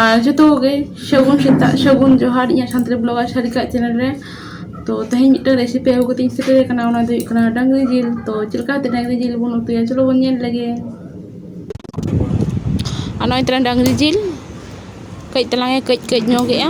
ᱟᱨ ᱡᱚᱛᱚ ᱜᱮ ᱥᱟᱹᱜᱩᱱ ᱥᱮᱛᱟᱜ ᱥᱟᱹᱜᱩᱱ ᱡᱚᱦᱟᱨ ᱤᱧᱟᱹᱜ ᱥᱟᱱᱛᱟᱲᱤ ᱵᱞᱚᱜᱟᱨ ᱥᱟᱨᱤᱠᱟ ᱪᱮᱱᱮᱞ ᱨᱮ ᱛᱚ ᱛᱮᱦᱮᱧ ᱢᱤᱫᱴᱟᱝ ᱨᱮᱥᱤᱯᱤ ᱟᱹᱜᱩ ᱠᱟᱛᱮᱧ ᱥᱮᱴᱮᱨ ᱟᱠᱟᱱᱟ ᱚᱱᱟ ᱫᱚ ᱦᱩᱭᱩᱜ ᱠᱟᱱᱟ ᱰᱟᱝᱨᱤ ᱡᱤᱞ ᱛᱚ ᱪᱮᱫ ᱞᱮᱠᱟᱛᱮ ᱰᱟᱝᱨᱤ ᱡᱤᱞ ᱵᱚᱱ ᱩᱛᱩᱭᱟ ᱪᱚᱞᱚ ᱵᱚᱱ ᱧᱮᱞ ᱞᱮᱜᱮ ᱟᱨ ᱱᱚᱜᱼᱚᱭ ᱛᱟᱞᱟᱝ ᱰᱟᱝᱨᱤ ᱡᱤᱞ ᱠᱟᱹᱡ ᱛᱟᱞᱟᱝ ᱮ ᱠᱟᱹᱡ ᱠᱟᱹᱡ ᱧᱚᱜᱮᱜᱼᱟ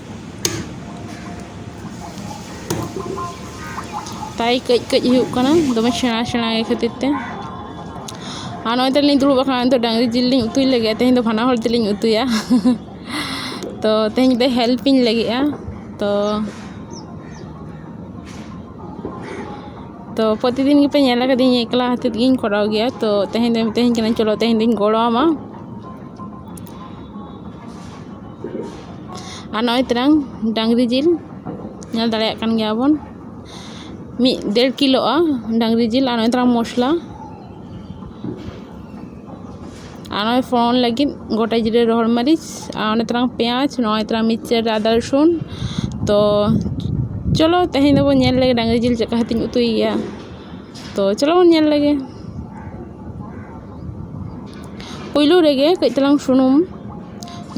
ᱛᱟᱭ ᱠᱟᱹᱡ ᱠᱟᱹᱡ ᱦᱩᱭᱩᱜ ᱠᱟᱱᱟ ᱫᱚᱢᱮ ᱥᱮᱬᱟ ᱥᱮᱬᱟ ᱜᱮ ᱠᱷᱟᱹᱛᱤᱨ ᱛᱮ ᱟᱨ ᱱᱚᱜᱼᱚᱭ ᱛᱟᱞᱤᱧ ᱫᱩᱲᱩᱵ ᱟᱠᱟᱱᱟ ᱱᱤᱛᱚᱜ ᱰᱟᱝᱨᱤ ᱡᱤᱞ ᱞᱤᱧ ᱩᱛᱩᱭ ᱞᱟᱹᱜᱤᱫᱼᱟ ᱛᱮᱦᱮᱧ ᱫᱚ ᱵᱟᱱᱟ ᱦᱚᱲ ᱛᱮᱞᱤᱧ ᱩᱛᱩᱭᱟ ᱛᱚ ᱛᱮᱦᱮᱧ ᱫᱚ ᱦᱮᱞᱯ ᱤᱧ ᱞᱟᱹᱜᱤᱫᱼᱟ ᱛᱚ ᱛᱚ ᱯᱨᱚᱛᱤᱫᱤᱱ ᱜᱮᱯᱮ ᱧᱮᱞ ᱟᱠᱟᱫᱤᱧ ᱮᱠᱞᱟ ᱦᱟᱛᱮᱫ ᱜᱤᱧ ᱠᱚᱨᱟᱣ ᱜᱮᱭᱟ ᱛᱚ ᱛᱮᱦᱮᱧ ᱫᱚ ᱢᱤᱛᱟᱹᱧ ᱠᱟᱱᱟ ᱪᱚᱞᱚ ᱛᱮᱦᱮᱧ ᱫᱚᱧ ᱜᱚᱲᱚ ᱟᱢᱟ ᱟᱨ ᱱᱚᱜᱼᱚᱭ ᱛᱚᱨᱟᱝ ᱰᱟᱝᱨᱤ ᱡᱤᱞ ᱧᱮᱞ ᱫᱟᱲᱮᱭᱟᱜ ᱠᱟᱱ ᱜᱮᱭᱟ ᱵᱚᱱ ᱢᱤᱫ ᱰᱮᱲ ᱠᱤᱞᱳᱜᱼᱟ ᱰᱟᱝᱨᱤ ᱡᱤᱞ ᱟᱨ ᱱᱚᱜᱼᱚᱭ ᱛᱚᱨᱟᱝ ᱢᱚᱥᱞᱟ ᱟᱨ ᱱᱚᱜᱼᱚᱭ ᱯᱷᱳᱲᱚᱱ ᱞᱟᱹᱜᱤᱫ ᱜᱳᱴᱟ ᱡᱤᱨᱟᱹ ᱨᱚᱦᱚᱲ ᱢᱟᱹᱨᱤᱪ ᱟᱨ ᱱᱚᱜᱼᱚᱭ ᱛᱚᱨᱟᱝ ᱯᱮᱸᱭᱟᱡᱽ ᱱᱚᱜᱼᱚᱭ ᱛᱚᱨᱟᱝ ᱢᱤᱠᱥᱪᱟᱨ ᱨᱮ ᱟᱫᱟ ᱨᱚᱥᱩᱱ ᱛᱚ ᱪᱚᱞᱚ ᱛᱮᱦᱮᱧ ᱫᱚᱵᱚᱱ ᱧᱮᱞ ᱞᱮᱜᱮ ᱰᱟᱝᱨᱤ ᱡᱤᱞ ᱪᱮᱫ ᱞᱮᱠᱟ ᱠᱟᱛᱮᱧ ᱩᱛᱩᱭᱮᱭᱟ ᱛᱚ ᱪᱚᱞᱚ ᱵᱚᱱ ᱧᱮᱞ ᱞᱮᱜᱮ ᱯᱳᱭᱞᱳ ᱨᱮᱜᱮ ᱠᱟᱹᱡ ᱪᱟᱞᱟᱝ ᱥᱩᱱᱩᱢ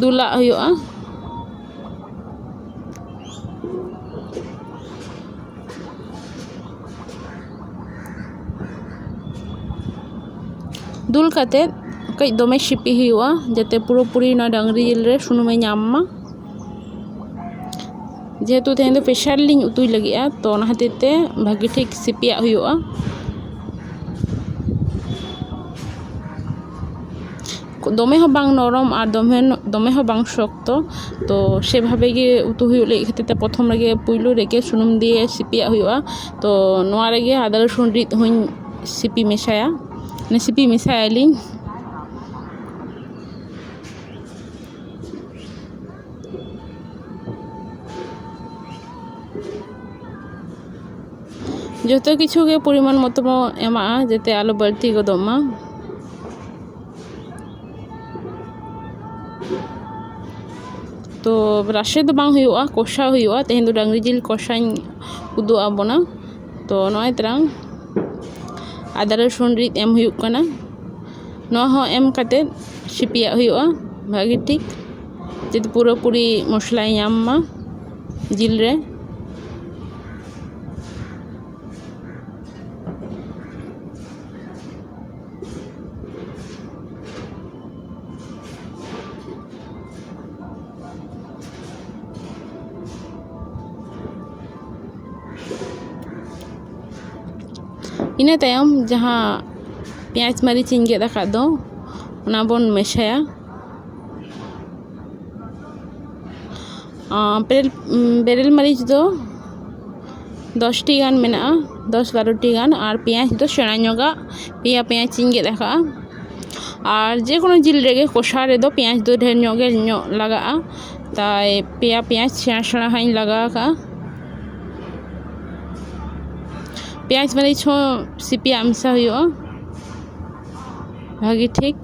ᱫᱩᱞᱟᱜ ᱦᱩᱭᱩᱜᱼᱟ ᱫᱩᱞ ᱠᱟᱛᱮ ᱠᱟᱹᱡ ᱫᱚᱢᱮ ᱥᱤᱯᱤ ᱦᱩᱭᱩᱜᱼᱟ ᱡᱟᱛᱮ ᱯᱩᱨᱟᱹᱯᱩᱨᱤ ᱚᱱᱟ ᱰᱟᱝᱨᱤ ᱡᱤᱞ ᱨᱮ ᱥᱩᱱᱩᱢᱮ ᱧᱟᱢ ᱢᱟ ᱡᱮᱦᱮᱛᱩ ᱛᱮᱦᱮᱧ ᱫᱚ ᱯᱮᱥᱟᱨ ᱨᱮᱞᱤᱧ ᱩᱛᱩᱭ ᱞᱟᱹᱜᱤᱫᱼᱟ ᱛᱚ ᱚᱱᱟ ᱠᱷᱟᱹᱛᱤᱨ ᱛᱮ ᱵᱷᱟᱹᱜᱤ ᱴᱷᱤᱠ ᱥᱤᱯᱤᱭᱟᱜ ᱦᱩᱭᱩᱜᱼᱟ ᱫᱚᱢᱮ ᱦᱚᱸ ᱵᱟᱝ ᱱᱚᱨᱚᱢ ᱟᱨ ᱫᱚᱢᱮ ᱦᱚᱸ ᱵᱟᱝ ᱥᱚᱠᱛᱚ ᱛᱚ ᱥᱮ ᱵᱷᱟᱵᱮ ᱜᱮ ᱩᱛᱩ ᱦᱩᱭᱩᱜ ᱞᱟᱹᱜᱤᱫ ᱠᱷᱟᱹᱛᱤᱨ ᱛᱮ ᱯᱨᱚᱛᱷᱚᱢ ᱨᱮᱜᱮ ᱯᱳᱭᱞᱳ ᱨᱮᱜᱮ ᱥᱩᱱᱩᱢ ᱫᱤᱭᱮ ᱥᱤᱯᱤᱭᱟᱜ ᱦᱩᱭᱩᱜᱼᱟ ᱛᱚ ᱱᱚᱣᱟ ᱨᱮᱜᱮ ᱟᱫᱟ ᱨᱚᱥᱩᱱ ᱨᱤᱫ ᱦᱚᱸᱧ ᱥᱤᱯᱤ ᱢᱮᱥᱟᱭᱟ ᱥᱤᱯᱤ ᱢᱮᱥᱟᱭᱟᱞᱤᱧ ᱡᱚᱛᱚ ᱠᱤᱪᱷᱩ ᱜᱮ ᱯᱚᱨᱤᱢᱟᱱ ᱢᱚᱛᱚ ᱵᱚᱱ ᱮᱢᱟᱜᱼᱟ ᱡᱟᱛᱮ ᱟᱞᱚ ᱵᱟᱹᱲᱛᱤ ᱜᱚᱫᱚᱜ ᱢᱟ ᱛᱚ ᱨᱟᱥᱮ ᱫᱚ ᱵᱟᱝ ᱦᱩᱭᱩᱜᱼᱟ ᱠᱚᱥᱟᱣ ᱦᱩᱭᱩᱜᱼᱟ ᱛᱮᱦᱮᱧ ᱫᱚ ᱰᱟᱹᱝᱨᱤ ᱡᱤᱞ ᱠᱚᱥᱟᱧ ᱩᱫᱩᱜ ᱟᱜ ᱵᱚᱱᱟ ᱛᱚ ᱱᱚᱜᱼᱚᱭ ᱛᱟᱨᱟᱝ ᱟᱫᱟ ᱨᱟᱹᱥᱩᱱ ᱨᱤᱫ ᱮᱢ ᱦᱩᱭᱩᱜ ᱠᱟᱱᱟ ᱱᱚᱣᱟ ᱦᱚᱸ ᱮᱢ ᱠᱟᱛᱮᱫ ᱥᱤᱯᱤᱭᱟᱜ ᱦᱩᱭᱩᱜᱼᱟ ᱵᱷᱟᱹᱜᱤ ᱴᱷᱤᱠ ᱡᱟᱛᱮ ᱯᱩᱨᱟᱹᱯᱩᱨᱤ ᱢᱚᱥᱞᱟᱭ ᱧᱟᱢ ᱢᱟ ᱡᱤᱞ ᱨᱮ ᱤᱱᱟᱹ ᱛᱟᱭᱚᱢ ᱡᱟᱦᱟᱸ ᱯᱮᱸᱭᱟᱡᱽ ᱢᱟᱹᱨᱤᱪ ᱤᱧ ᱜᱮᱫ ᱟᱠᱟᱫ ᱫᱚ ᱚᱱᱟ ᱵᱚᱱ ᱢᱮᱥᱟᱭᱟ ᱵᱮᱨᱮᱞ ᱢᱟᱹᱨᱤᱪ ᱫᱚ ᱫᱚᱥᱴᱤ ᱜᱟᱱ ᱢᱮᱱᱟᱜᱼᱟ ᱫᱚᱥ ᱵᱟᱨᱚᱴᱤ ᱜᱟᱱ ᱟᱨ ᱯᱮᱸᱭᱟᱡᱽ ᱫᱚ ᱥᱮᱬᱟ ᱧᱚᱜᱟᱜ ᱯᱮᱭᱟ ᱯᱮᱸᱭᱟᱡᱽ ᱤᱧ ᱜᱮᱫ ᱟᱠᱟᱫᱼᱟ ᱟᱨ ᱡᱮᱠᱳᱱᱳ ᱡᱤᱞ ᱨᱮᱜᱮ ᱠᱚᱥᱟ ᱨᱮᱫᱚ ᱯᱮᱸᱭᱟᱡᱽ ᱫᱚ ᱰᱷᱮᱨ ᱧᱚᱜ ᱜᱮ ᱞᱟᱜᱟᱜᱼᱟ ᱛᱟᱭ ᱯᱮᱭᱟ ᱯᱮᱸᱭᱟᱡᱽ ᱥᱮᱬᱟ ᱥᱮᱬᱟ ᱦᱟᱸᱜ ᱤᱧ ᱞᱟᱜᱟᱣ ᱠᱟᱜᱼᱟ ᱯᱮᱸᱭᱟᱡᱽ ᱢᱟᱹᱨᱤᱪ ᱦᱚᱸ ᱥᱤᱯᱤᱭᱟᱜ ᱢᱮᱥᱟ ᱦᱩᱭᱩᱜᱼᱟ ᱵᱷᱟᱹᱜᱤ ᱴᱷᱤᱠ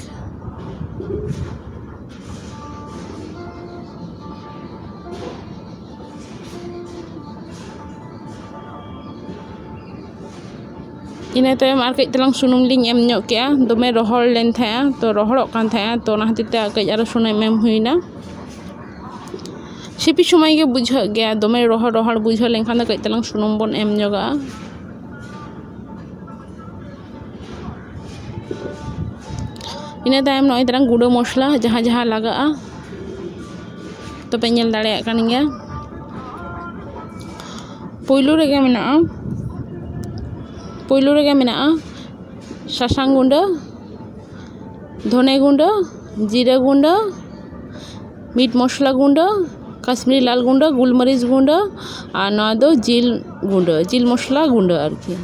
ᱤᱱᱟᱹ ᱛᱟᱭᱚᱢ ᱟᱨ ᱠᱟᱹᱡ ᱛᱟᱞᱟᱝ ᱥᱩᱱᱩᱢ ᱞᱤᱧ ᱮᱢ ᱧᱚᱜ ᱠᱮᱫᱼᱟ ᱫᱚᱢᱮ ᱨᱚᱦᱚᱲ ᱞᱮᱱ ᱛᱟᱦᱮᱸᱫᱼᱟ ᱛᱚ ᱨᱚᱦᱚᱲᱚᱜ ᱠᱟᱱ ᱛᱟᱦᱮᱸᱫᱼᱟ ᱛᱚ ᱚᱱᱟ ᱠᱷᱟᱹᱛᱤᱨ ᱛᱮ ᱟᱨ ᱠᱟᱹᱡ ᱥᱩᱱᱩᱢ ᱮᱢ ᱦᱩᱭᱱᱟ ᱥᱤᱯᱤ ᱥᱚᱢᱚᱭ ᱜᱮ ᱵᱩᱡᱷᱟᱹᱜ ᱜᱮᱭᱟ ᱫᱚᱢᱮ ᱨᱚᱦᱚᱲ ᱨᱚᱦᱚᱲ ᱵᱩᱡᱷᱟᱹᱣ ᱞᱮᱱᱠᱷᱟᱱ ᱫᱚ ᱠᱟᱹᱡ ᱛᱟᱞᱟᱝ ᱥᱩᱱᱩᱢ ᱵᱚᱱ ᱮᱢ ᱧᱚᱜᱟᱜᱼᱟ ᱤᱱᱟᱹ ᱛᱟᱭᱚᱢ ᱱᱚᱜᱼᱚᱭ ᱛᱟᱞᱟᱝ ᱜᱩᱰᱟᱹ ᱢᱚᱥᱞᱟ ᱡᱟᱦᱟᱸ ᱡᱟᱦᱟᱸ ᱞᱟᱜᱟᱜᱼᱟ ᱛᱚᱯᱮ ᱧᱮᱞ ᱫᱟᱲᱮᱭᱟᱜ ᱠᱟᱱ ᱜᱮᱭᱟ ᱯᱳᱭᱞᱳ ᱨᱮᱜᱮ ᱢᱮᱱᱟᱜᱼᱟ ᱯᱳᱭᱞᱳ ᱨᱮᱜᱮ ᱢᱮᱱᱟᱜᱼᱟ ᱥᱟᱥᱟᱝ ᱜᱩᱰᱟᱹ ᱫᱷᱚᱱᱮ ᱜᱩᱰᱟᱹ ᱡᱤᱨᱟᱹ ᱜᱩᱰᱟᱹ ᱢᱤᱴ ᱢᱚᱥᱞᱟ ᱜᱩᱰᱟᱹ ᱠᱟᱥᱢᱤᱨᱤ ᱞᱟᱞ ᱜᱩᱰᱟᱹ ᱜᱩᱞ ᱢᱟᱹᱨᱤᱪ ᱜᱩᱰᱟᱹ ᱟᱨ ᱱᱚᱣᱟ ᱫᱚ ᱡᱤᱞ ᱜᱩᱰᱟᱹ ᱡᱤᱞ ᱢᱚᱥᱞᱟ ᱜᱩᱰᱟᱹ ᱟᱨᱠᱤ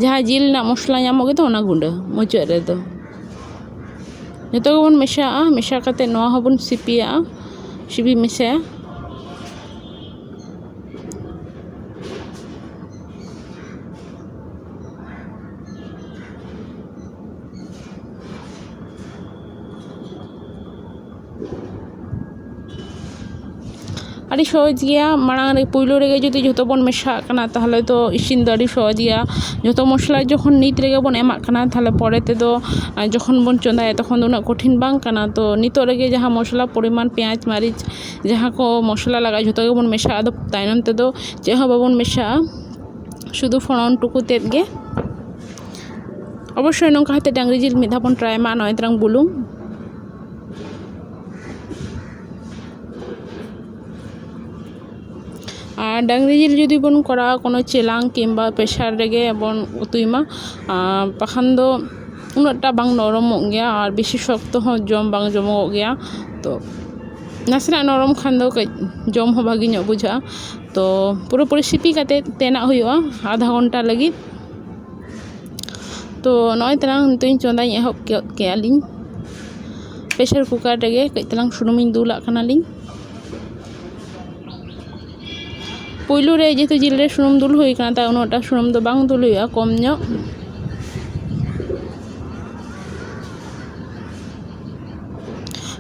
ᱡᱟᱦᱟᱸ ᱡᱤᱞ ᱨᱮᱱᱟᱜ ᱢᱚᱥᱞᱟ ᱧᱟᱢᱚᱜ ᱜᱮᱫᱚ ᱚᱱᱟ ᱜᱩᱰᱟᱹ ᱢᱩᱪᱟᱹᱫ ᱨᱮᱫᱚ ᱡᱚᱛᱚ ᱜᱮᱵᱚᱱ ᱢᱮᱥᱟᱣᱟᱜᱼᱟ ᱢᱮᱥᱟ ᱠᱟᱛᱮᱫ ᱱᱚᱣᱟ ᱦᱚᱸᱵᱚᱱ ᱥᱤᱯᱤᱭᱟᱜᱼᱟ ᱥᱤᱯᱤ ᱢᱮᱥᱟᱭᱟ ᱟᱹᱰᱤ ᱥᱚᱦᱚᱡᱽ ᱜᱮᱭᱟ ᱢᱟᱲᱟᱝ ᱨᱮ ᱯᱳᱭᱞᱳ ᱨᱮᱜᱮ ᱡᱩᱫᱤ ᱡᱷᱚᱛᱚ ᱵᱚᱱ ᱢᱮᱥᱟᱣᱟᱜ ᱠᱟᱱᱟ ᱛᱟᱦᱚᱞᱮ ᱫᱚ ᱤᱥᱤᱱ ᱫᱚ ᱟᱹᱰᱤ ᱥᱚᱦᱚᱡᱽ ᱜᱮᱭᱟ ᱡᱚᱛᱚ ᱢᱚᱥᱞᱟ ᱡᱚᱠᱷᱚᱱ ᱱᱤᱛ ᱨᱮᱜᱮ ᱵᱚᱱ ᱮᱢᱟᱜ ᱠᱟᱱᱟ ᱛᱟᱦᱚᱞᱮ ᱯᱚᱨᱮ ᱛᱮᱫᱚ ᱡᱚᱠᱷᱚᱱ ᱵᱚᱱ ᱪᱚᱸᱫᱟᱭᱟ ᱛᱚᱠᱷᱚᱱ ᱫᱚ ᱩᱱᱟᱹᱜ ᱠᱚᱴᱷᱤᱱ ᱵᱟᱝ ᱠᱟᱱᱟ ᱛᱚ ᱱᱤᱛᱚᱜ ᱨᱮᱜᱮ ᱡᱟᱦᱟᱸ ᱢᱚᱥᱞᱟ ᱯᱚᱨᱤᱢᱟᱱ ᱯᱮᱸᱭᱟᱡᱽ ᱢᱟᱹᱨᱤᱪ ᱡᱟᱦᱟᱸ ᱠᱚ ᱢᱚᱥᱞᱟ ᱞᱟᱜᱟᱜᱼᱟ ᱡᱷᱚᱛᱚ ᱜᱮᱵᱚᱱ ᱢᱮᱥᱟᱣᱟᱜᱼᱟ ᱟᱫᱚ ᱛᱟᱭᱚᱢ ᱛᱮᱫᱚ ᱪᱮᱫ ᱦᱚᱸ ᱵᱟᱵᱚᱱ ᱢᱮᱥᱟᱣᱟᱜᱼᱟ ᱥᱩᱫᱷᱩ ᱯᱷᱚᱲᱚᱱ ᱴᱩᱠᱩ ᱛᱮᱫ ᱜᱮ ᱚᱵᱚᱥᱥᱳᱭ ᱱᱚᱝᱠᱟ ᱠᱟᱛᱮᱫ ᱰᱟᱝᱨᱤ ᱡᱤᱞ ᱢᱤᱫ ᱫᱷᱟᱣ ᱵᱚᱱ ᱴᱨᱟᱭ ᱢᱟ ᱱᱚᱜᱼᱚᱭ ᱛᱟᱞᱟᱝ ᱵᱩᱞᱩᱝ ᱟᱨ ᱰᱟᱝᱨᱤ ᱡᱤᱞ ᱡᱩᱫᱤ ᱵᱚᱱ ᱠᱚᱨᱟᱣᱟ ᱠᱳᱱᱳ ᱪᱮᱞᱟᱝ ᱠᱤᱢᱵᱟ ᱯᱮᱥᱟᱨ ᱨᱮᱜᱮ ᱵᱚᱱ ᱩᱛᱩᱭ ᱢᱟ ᱟᱨ ᱵᱟᱠᱷᱟᱱ ᱫᱚ ᱩᱱᱟᱹᱜ ᱴᱟ ᱵᱟᱝ ᱱᱚᱨᱚᱢᱚᱜ ᱜᱮᱭᱟ ᱟᱨ ᱵᱮᱥᱤ ᱥᱚᱠᱛᱚ ᱦᱚᱸ ᱡᱚᱢ ᱵᱟᱝ ᱡᱚᱢᱚᱜᱚᱜ ᱜᱮᱭᱟ ᱛᱚ ᱱᱟᱥᱮᱱᱟᱜ ᱱᱚᱨᱚᱢ ᱠᱷᱟᱱ ᱫᱚ ᱠᱟᱹᱡ ᱡᱚᱢ ᱦᱚᱸ ᱵᱷᱟᱹᱜᱤ ᱧᱚᱜ ᱵᱩᱡᱷᱟᱹᱜᱼᱟ ᱛᱚ ᱯᱩᱨᱟᱹᱯᱩᱨᱤ ᱥᱤᱯᱤ ᱠᱟᱛᱮᱫ ᱛᱮᱱᱟᱜ ᱦᱩᱭᱩᱜᱼᱟ ᱟᱫᱷᱟ ᱜᱷᱚᱱᱴᱟ ᱞᱟᱹᱜᱤᱫ ᱛᱚ ᱱᱚᱜᱼᱚᱸᱭ ᱛᱟᱞᱟᱝ ᱱᱤᱛᱚᱜ ᱤᱧ ᱪᱚᱸᱫᱟᱧ ᱮᱦᱚᱵ ᱜᱚᱫ ᱠᱮᱜᱼᱟ ᱞᱤᱧ ᱯᱮᱥᱟᱨ ᱠᱩᱠᱟᱨ ᱨᱮᱜᱮ ᱠᱟᱹᱡ ᱛᱟᱞᱟᱝ ᱥᱩᱱᱩᱢᱤᱧ ᱫᱩᱞᱟᱜ ᱠᱟᱱᱟ ᱞᱤᱧ ᱯᱳᱭᱞᱳ ᱨᱮ ᱡᱮᱦᱮᱛᱩ ᱡᱤᱞ ᱨᱮ ᱥᱩᱱᱩᱢ ᱫᱩᱞ ᱦᱩᱭ ᱠᱟᱱᱟ ᱛᱟᱣ ᱩᱱᱟᱹᱜ ᱴᱟ ᱥᱩᱱᱩᱢ ᱫᱚ ᱵᱟᱝ ᱫᱩᱞ ᱦᱩᱭᱩᱜᱼᱟ ᱠᱚᱢ ᱧᱚᱜ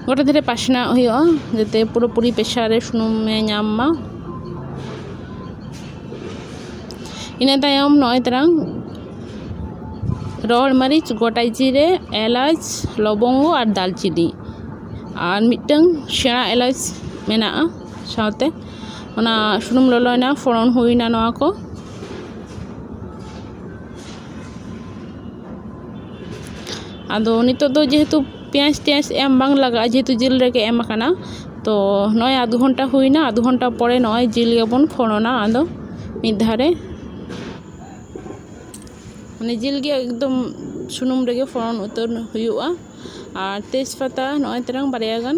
ᱜᱚᱴᱟ ᱫᱷᱟᱨᱮ ᱯᱟᱥᱱᱟᱣ ᱦᱩᱭᱩᱜᱼᱟ ᱡᱟᱛᱮ ᱯᱩᱨᱟᱹ ᱯᱩᱨᱤ ᱯᱮᱥᱟᱨ ᱨᱮ ᱥᱩᱱᱩᱢᱮ ᱧᱟᱢ ᱢᱟ ᱤᱱᱟᱹ ᱛᱟᱭᱚᱢ ᱱᱚᱜᱼᱚᱭ ᱛᱟᱨᱟᱝ ᱨᱚᱦᱚᱲ ᱢᱟᱹᱨᱤᱪ ᱜᱚᱴᱟ ᱡᱤᱨᱮ ᱮᱞᱟᱪ ᱞᱚᱵᱚᱝᱜᱚ ᱟᱨ ᱫᱟᱨᱪᱤᱱᱤ ᱟᱨ ᱢᱤᱫᱴᱟᱹᱝ ᱥᱮᱬᱟ ᱮᱞᱟᱪ ᱢᱮᱱᱟᱜᱼᱟ ᱥᱟᱶᱛᱮ ᱚᱱᱟ ᱥᱩᱱᱩᱢ ᱞᱚᱞᱚᱭᱮᱱᱟ ᱯᱷᱚᱲᱚᱱ ᱦᱩᱭᱱᱟ ᱱᱚᱣᱟ ᱠᱚ ᱟᱫᱚ ᱱᱤᱛᱚᱜ ᱫᱚ ᱡᱮᱦᱮᱛᱩ ᱯᱮᱸᱭᱟᱡᱽ ᱴᱮᱸᱭᱟᱡᱽ ᱮᱢ ᱵᱟᱝ ᱞᱟᱜᱟᱜᱼᱟ ᱡᱮᱦᱮᱛᱩ ᱡᱤᱞ ᱨᱮᱜᱮ ᱮᱢ ᱠᱟᱱᱟ ᱛᱚ ᱱᱚᱜᱼᱚᱸᱭ ᱟᱫᱷ ᱜᱷᱚᱱᱴᱟ ᱦᱩᱭᱱᱟ ᱟᱫᱷ ᱜᱷᱚᱱᱴᱟ ᱯᱚᱨᱮ ᱱᱚᱜᱼᱚᱸᱭ ᱡᱤᱞ ᱜᱮᱵᱚᱱ ᱯᱷᱚᱲᱚᱱᱟ ᱟᱫᱚ ᱢᱤᱫ ᱫᱷᱟᱣ ᱨᱮ ᱢᱟᱱᱮ ᱡᱤᱞ ᱜᱮ ᱮᱠᱫᱚᱢ ᱥᱩᱱᱩᱢ ᱨᱮᱜᱮ ᱯᱷᱚᱲᱚᱱ ᱩᱛᱟᱹᱨ ᱦᱩᱭᱩᱜᱼᱟ ᱟᱨ ᱛᱮᱡᱽ ᱯᱟᱛᱟ ᱱᱚᱜᱼᱚᱸᱭ ᱛᱟᱨᱟᱝ ᱵᱟᱨᱭᱟ ᱜᱟᱱ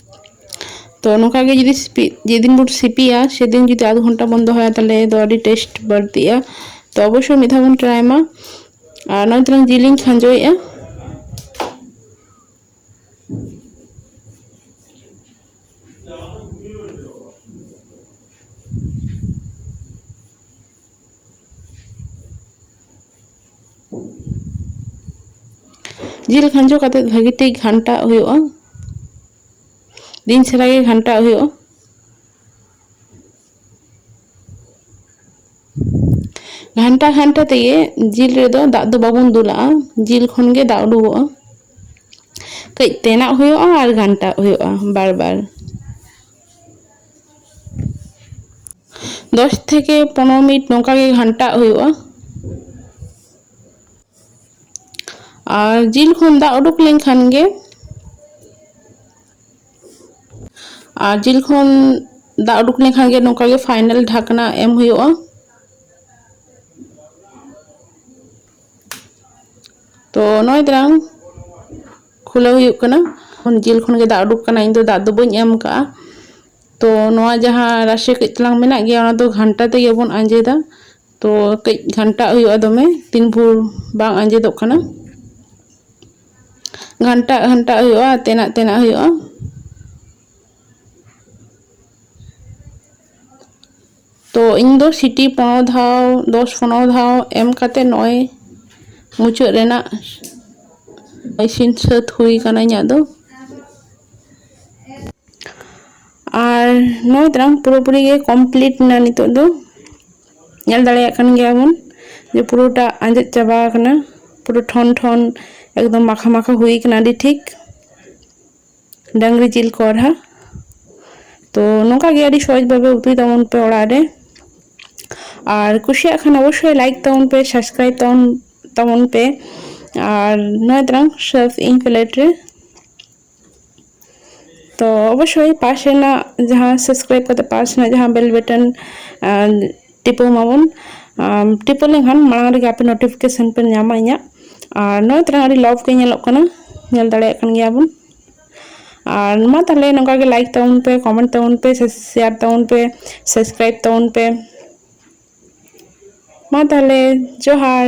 ᱛᱚ ᱱᱚᱝᱠᱟ ᱜᱮ ᱡᱩᱫᱤ ᱥᱤᱯᱤ ᱡᱮᱫᱤᱱ ᱵᱚᱱ ᱥᱤᱯᱤᱭᱟ ᱥᱮᱫᱤᱱ ᱡᱩᱫᱤ ᱟᱫᱷ ᱜᱷᱚᱱᱴᱟ ᱵᱚᱱ ᱫᱚᱦᱚᱭᱟ ᱛᱟᱦᱚᱞᱮ ᱫᱚ ᱟᱹᱰᱤ ᱴᱮᱥᱴ ᱵᱟᱹᱲᱛᱤᱜᱼᱟ ᱛᱚ ᱚᱵᱚᱥᱥᱳᱭ ᱢᱤᱫ ᱫᱷᱟᱣ ᱵᱚᱱ ᱴᱨᱟᱭ ᱢᱟ ᱟᱨ ᱱᱚᱜᱼᱚᱭ ᱛᱟᱞᱟᱝ ᱡᱤᱞᱤᱧ ᱠᱷᱟᱸᱡᱚᱭᱮᱫᱼᱟ ᱡᱤᱞ ᱠᱷᱟᱸᱡᱚ ᱠᱟᱛᱮ ᱵᱷᱟᱹᱜᱤ ᱴᱷᱤᱠ ᱜᱷᱟᱱᱴᱟᱣ ᱦᱩᱭᱩᱜᱼᱟ ᱫᱤᱱ ᱪᱷᱟᱨᱟ ᱜᱮ ᱜᱷᱟᱱᱴᱟᱣ ᱦᱩᱭᱩᱜᱼᱟ ᱜᱷᱟᱱᱴᱟ ᱜᱷᱟᱱᱴᱟ ᱛᱮᱜᱮ ᱡᱤᱞ ᱨᱮᱫᱚ ᱫᱟᱜ ᱫᱚ ᱵᱟᱵᱚᱱ ᱫᱩᱞᱟᱜᱼᱟ ᱡᱤᱞ ᱠᱷᱚᱱ ᱜᱮ ᱫᱟᱜ ᱩᱰᱩᱠᱚᱜᱼᱟ ᱠᱟᱹᱡ ᱛᱮᱱᱟᱜ ᱦᱩᱭᱩᱜᱼᱟ ᱟᱨ ᱜᱷᱟᱱᱴᱟᱣ ᱦᱩᱭᱩᱜᱼᱟ ᱵᱟᱨ ᱵᱟᱨ ᱫᱚᱥ ᱛᱷᱮᱠᱮ ᱯᱚᱱᱨᱚ ᱢᱤᱱᱤᱴ ᱱᱚᱝᱠᱟ ᱜᱮ ᱜᱷᱟᱱᱴᱟᱜ ᱦᱩᱭᱩᱜᱼᱟ ᱟᱨ ᱡᱤᱞ ᱠᱷᱚᱱ ᱫᱟᱜ ᱩᱰᱩᱠ ᱞᱮᱱᱠᱷᱟᱱ ᱜᱮ ᱟᱨ ᱡᱤᱞ ᱠᱷᱚᱱ ᱫᱟᱜ ᱩᱰᱩᱠ ᱞᱮᱱᱠᱷᱟᱱ ᱜᱮ ᱱᱚᱝᱠᱟ ᱜᱮ ᱯᱷᱟᱭᱱᱟᱞ ᱰᱷᱟᱠᱱᱟ ᱮᱢ ᱦᱩᱭᱩᱜᱼᱟ ᱛᱚ ᱱᱚᱜᱼᱚᱭ ᱛᱟᱞᱟᱝ ᱠᱷᱩᱞᱟᱹᱣ ᱦᱩᱭᱩᱜ ᱠᱟᱱᱟ ᱠᱷᱚᱱ ᱡᱤᱞ ᱠᱷᱚᱱ ᱜᱮ ᱫᱟᱜ ᱩᱰᱩᱠ ᱠᱟᱱᱟ ᱤᱧ ᱫᱚ ᱫᱟᱜ ᱫᱚ ᱵᱟᱹᱧ ᱮᱢ ᱠᱟᱜᱼᱟ ᱛᱚ ᱱᱚᱣᱟ ᱡᱟᱦᱟᱸ ᱨᱟᱥᱮ ᱠᱟᱹᱡ ᱛᱟᱞᱟᱝ ᱢᱮᱱᱟᱜ ᱜᱮᱭᱟ ᱚᱱᱟ ᱫᱚ ᱜᱷᱟᱱᱴᱟ ᱛᱮᱜᱮ ᱵᱚᱱ ᱟᱸᱡᱮᱫᱟ ᱛᱚ ᱠᱟᱹᱡ ᱜᱷᱟᱱᱴᱟᱜ ᱦᱩᱭᱩᱜᱼᱟ ᱫᱚᱢᱮ ᱛᱤᱱ ᱵᱷᱳᱨ ᱵᱟᱝ ᱟᱸᱡᱮᱫᱚᱜ ᱠᱟᱱᱟ ᱜᱷᱟᱱᱴᱟᱜ ᱜᱷᱟᱱᱴᱟᱜ ᱦᱩᱭᱩᱜᱼᱟ ᱛᱮᱱᱟᱜ ᱛᱮᱱᱟᱜ ᱦᱩᱭᱩᱜᱼᱟ ᱛᱚ ᱤᱧ ᱫᱚ ᱥᱤᱴᱤ ᱯᱚᱱᱨᱚ ᱫᱷᱟᱣ ᱫᱚᱥ ᱯᱚᱱᱨᱚ ᱫᱷᱟᱣ ᱮᱢ ᱠᱟᱛᱮ ᱱᱚᱜᱼᱚᱭ ᱢᱩᱪᱟᱹᱫ ᱨᱮᱱᱟᱜ ᱤᱥᱤᱱ ᱥᱟᱹᱛ ᱦᱩᱭ ᱟᱠᱟᱱᱟ ᱤᱧᱟᱹᱜ ᱫᱚ ᱟᱨ ᱱᱚᱜᱼᱚᱭ ᱛᱟᱞᱟᱝ ᱯᱩᱨᱟᱹᱯᱩᱨᱤ ᱜᱮ ᱠᱚᱢᱯᱞᱤᱴ ᱮᱱᱟ ᱱᱤᱛᱚᱜ ᱫᱚ ᱧᱮᱞ ᱫᱟᱲᱮᱭᱟᱜ ᱠᱟᱱ ᱜᱮᱭᱟ ᱵᱚᱱ ᱡᱮ ᱯᱩᱨᱟᱹᱴᱟ ᱟᱸᱡᱮᱫ ᱪᱟᱵᱟ ᱟᱠᱟᱱᱟ ᱯᱩᱨᱟᱹ ᱴᱷᱚᱱ ᱴᱷᱚᱱ ᱮᱠᱫᱚᱢ ᱢᱟᱠᱷᱟ ᱢᱟᱠᱷᱟ ᱦᱩᱭ ᱟᱠᱟᱱᱟ ᱟᱹᱰᱤ ᱴᱷᱤᱠ ᱰᱟᱝᱨᱤ ᱡᱤᱞ ᱠᱚᱲᱦᱟ ᱛᱚ ᱱᱚᱝᱠᱟ ᱜᱮ ᱟᱹᱰᱤ ᱥᱚᱦᱚᱡ ᱵᱷᱟᱵᱮ ᱩᱛᱩᱭ ᱛᱟᱵᱚᱱ ᱯᱮ ᱚᱲᱟᱜ ᱨᱮ ᱟᱨ ᱠᱩᱥᱤᱭᱟᱜ ᱠᱷᱟᱱ ᱚᱵᱚᱥᱥᱳᱭ ᱞᱟᱭᱤᱠ ᱛᱟᱵᱚᱱ ᱯᱮ ᱥᱟᱵᱥᱠᱨᱟᱭᱤᱵ ᱛᱟᱵᱚᱱ ᱛᱟᱵᱚᱱ ᱯᱮ ᱟᱨ ᱱᱚᱜᱼᱚᱭ ᱛᱟᱨᱟᱝ ᱥᱟᱨᱯᱷ ᱤᱧ ᱯᱞᱮᱴ ᱨᱮ ᱛᱚ ᱚᱵᱚᱥᱥᱳᱭ ᱯᱟᱥ ᱨᱮᱱᱟᱜ ᱡᱟᱦᱟᱸ ᱥᱟᱵᱥᱠᱨᱟᱭᱤᱵ ᱠᱟᱛᱮ ᱯᱟᱥ ᱨᱮᱱᱟᱜ ᱡᱟᱦᱟᱸ ᱵᱮᱞ ᱵᱟᱴᱚᱱ ᱴᱤᱯᱟᱹᱣ ᱢᱟᱵᱚᱱ ᱴᱤᱯᱟᱹᱣ ᱞᱮᱱᱠᱷᱟᱱ ᱢᱟᱲᱟᱝ ᱨᱮᱜᱮ ᱟᱯᱮ ᱱᱳᱴᱤᱯᱷᱤᱠᱮᱥᱚᱱ ᱯᱮ ᱧᱟᱢᱟ ᱤᱧᱟᱹᱜ ᱟᱨ ᱱᱚᱜᱼᱚᱭ ᱛᱟᱨᱟ ᱟᱹᱰᱤ ᱞᱚᱵᱷ ᱜᱮ ᱧᱮᱞᱚᱜ ᱠᱟᱱᱟ ᱧᱮᱞ ᱫᱟᱲᱮᱭᱟᱜ ᱠᱟᱱ ᱜᱮᱭᱟ ᱵᱚᱱ ᱟᱨ ᱢᱟ ᱛᱟᱦᱞᱮ ᱱᱚᱝᱠᱟ ᱜᱮ ᱞᱟᱭᱤᱠ ᱛᱟᱵᱚᱱ ᱯᱮ ᱠᱚᱢᱮᱱᱴ ᱛᱟᱵᱚᱱ ᱯᱮ ᱥᱮ ᱥᱮᱭᱟᱨ ᱛᱟᱵᱚᱱ ᱯᱮ ᱥᱟᱵᱥᱠᱨᱟᱭᱤᱵ ᱛᱟᱵᱚᱱ ᱯᱮ ᱢᱟ ᱛᱟᱦᱞᱮ ᱡᱚᱦᱟᱨ